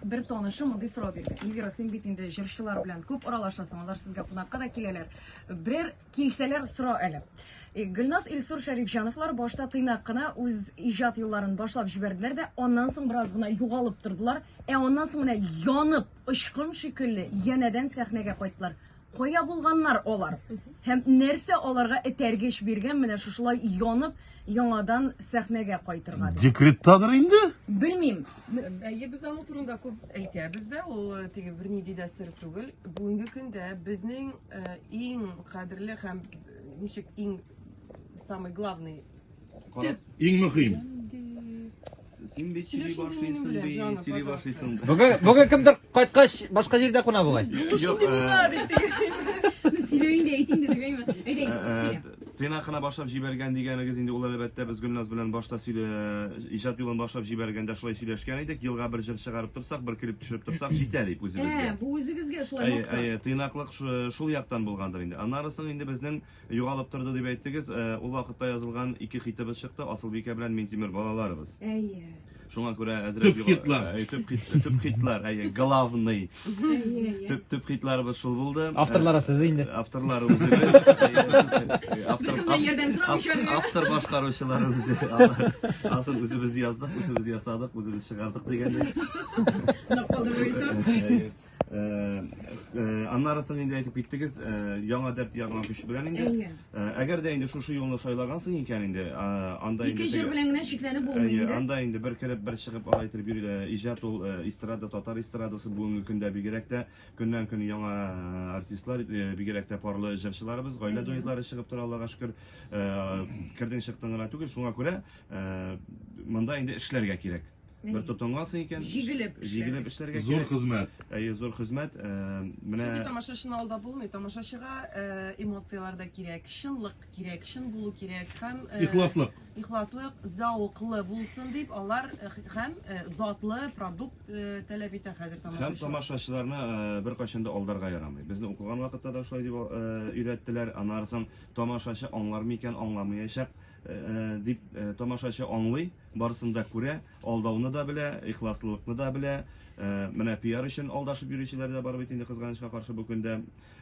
Бер танышым мондый сорау бирде. Эльвира, син бит инде җырчылар белән күп аралашасың, алар сезгә кунакка да киләләр. Берәр килсәләр сора әле. Э, Гөлназ Илсур Шәрифҗановлар башта тыйнак кына үз иҗат юлларын башлап җибәрделәр дә, аннан соң бераз гына югалып тордылар. Ә аннан соң менә янып, очкын шикелле янәдән сәхнәгә кайттылар. Кая булганнар алар? Һәм нәрсә аларга этәргеч биргән менә шушылай янып, яңадан сәхнәгә кайтырга? дип? Декреттадыр инде? Белмим. Әйе, без аның турында күп әйтәбез дә, ул э, теге бер нинди дә сер түгел. Бүгенге көндә безнең э, иң кадерле һәм э, ничек иң самый главный Төп. Иң мөһим. Син бит сөйли башлыйсың, бит сөйли башлыйсың. Бүген бүген кемдер кайткач башка җирдә куна бугай. Юк, сөйләйин дә әйтин дә дигәйме? Әйдә, сөйлә. Тыйнакына башлап җибәргән дигәнегез инде ул әлбәттә без Гөлназ белән башта сөйлә иҗат юлын башлап җибәргәндә шулай сөйләшкән идек. Елга бер җыр чыгарып торсак, бер клип төшереп торсак җитә дип үзебезгә. Ә, бу үзегезгә шулай максат. Әйе, тыйнаклык шул яктан булгандыр инде. Аннары соң инде безнең Югалып торды дип әйттегез. Ул вакытта язылган ике хитыбыз чыкты, Асылбикә белән Минтимер балаларыбыз. Әйе. Шуңа күрә әзрәк Төп хитлар. Әйе, төп хит, төп хитлар, әйе, главный. Төп төп хитларыбыз шул булды. Авторлары сез инде. Авторлары үзебез. Автор автор башкаручылар үзе. Асыл үзебез яздык, үзебез ясадык, үзебез чыгардык дигәндәй. Ноколдовый исәп. Э, э, аннары соң инде әйтеп киттегез э, яңа дәрт ягына күчү белән инде әйе әгәр дә инде шушы юлны сайлагансың икән инде анда инде ике җыр белән генә чикләнеп булмый инде анда инде бер кереп бер чыгып алай итеп иҗат ул эстрада татар эстрадасы бүгенге көндә бигрәк тә көннән көн яңа артистлар бигрәк тә парлы җырчыларыбыз гаилә дуэтлары чыгып тора аллага шөкер кердең чыктың гына түгел шуңа күрә монда инде эшләргә кирәк Бер тотынга соң икән. Җигелеп эшләргә. Җигелеп эшләргә кирәк. Зур хезмәт. Әйе, зур хезмәт. Э, менә Чөнки тамашачыны алдап булмый. Тамашачыга э, эмоцияләр дә кирәк, чынлык кирәк, чын булу кирәк һәм э, Ихласлык. Ихласлык, зәвыклы булсын дип алар э, һәм э, затлы продукт э, таләп итә хәзер Һәм тамашачы. тамашачыларны э, беркайчан да алдарга ярамый. Безне укыган вакытта да шулай дип э, өйрәттеләр. Аннары соң тамашачы аңлар микән, аңламаячак. дип тамашачы аңлый, барысын да күрә, алдауны да белә, ихласлылыкны да белә. Менә пиар өчен алдашып йөрүчеләр дә бар бит инде кызганычка каршы бу көндә.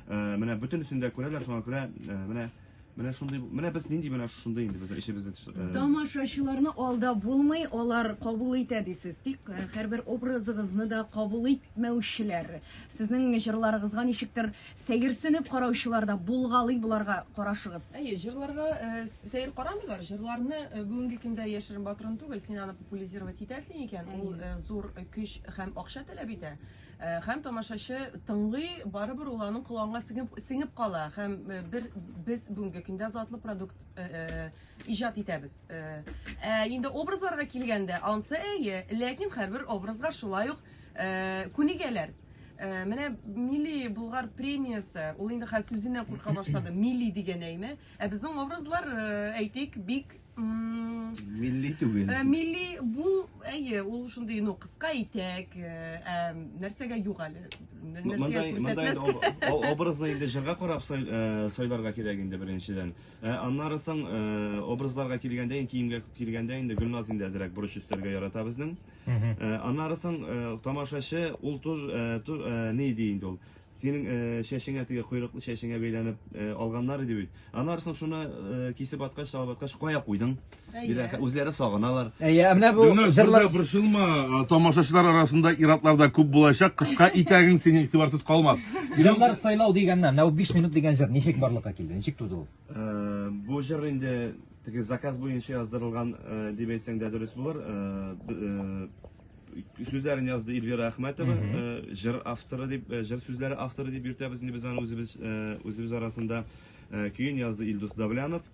Менә бөтенесен дә күрәләр, шуңа күрә менә Менә шундый, менә без нинди менә шундый инде без эшебезне э, Тамашачыларны алда булмый, алар кабул итә дисез. Тик э, һәрбер образыгызны да кабул итмәүчеләр. Сезнең җырларыгызга ничектер Сәерсенеп караучылар да булгалый боларга карашыгыз. Әйе, җырларга сәер карамыйлар. Җырларны бүгенге көндә яшерен батырын түгел, син аны популизировать итәсең икән, ул зур көч һәм акча таләп итә. Һәм тамашачы тыңлый, барыбер ул аның колагына сеңеп кала һәм бер без бүгенге көндә затлы продукт иҗат итәбез. Ә инде образларга килгәндә, ансы әйе, ләкин һәрбер образга шулай ук Э, күнегәләр э, менә милли булгар премиясе ул инде хәзер сүзеннән курка башлады милли дигән әйме ә безнең образлар э, әйтик бик милли түгел милли бул әйе ул шундый ну кыска итәк ә нәрсәгә юк әле образны инде җырга карап сайларга кирәк инде беренчедән аннары соң образларга килгәндә киемгә килгәндә инде гөлназ инде әзрәк борыч өстәргә ярата безнең Аннары соң тамашачы ул туз ни ди инде ул. Синең чәчеңә теге койрыклы чәчеңә бәйләнеп алганнар иде бит. Аннары соң шуны кисеп аткач, салып аткач, кая куйдың? Диләр, үзләре сагыналар. Әйе, менә бу җырлар борчылма, тамашачылар арасында иратлар да күп булачак, кыска итәгең синең игътибарсыз калмас. Җырлар сайлау дигәннән, менә бу 5 минут дигән җыр ничек барлыкка килде? Ничек туды ул? Бу җыр инде Теге заказ буенча яздырылган дип әйтсәң дә дөрес булыр. Сүзләрен язды Эльвира Әхмәтова, җыр авторы дип, җыр сүзләре авторы дип йөртәбез инде без аны үзебез, үзебез арасында. Көен язды Илдус Давлянов.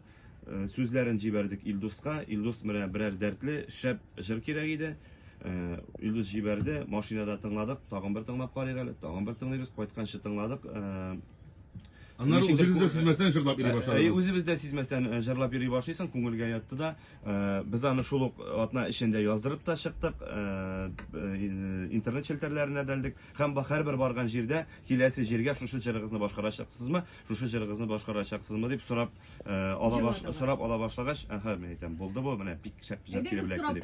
Сүзләрен җибәрдек Илдуска. Илдус менә берәр дәртле, шәп җыр кирәк иде. Илдус җибәрде, машинада тыңладык, тагын бер тыңлап карыйк әле, тагын бер тыңлыйбыз, кайтканчы тыңладык. Аннары Ничек үзегез дә сизмәстән җырлап йөри Әй, башладыгыз. үзебез дә сизмәстән э, җырлап йөри башлыйсың, күңелгә ятты да. Э, Без аны шул ук атна эчендә яздырып та чыктык, э, э, интернет челтәрләренә дә элдек. Һәм ба- һәрбер барган җирдә киләсе җиргә шушы җырыгызны башкарачаксызмы, шушы җырыгызны башкарачаксызмы дип сорап э, ала баш, Җырладылар. сорап ала башлагач, әһә, мин әйтәм, булды бу, менә бик шәп җыр Әйдәгез, килеп эләкте сорап дип.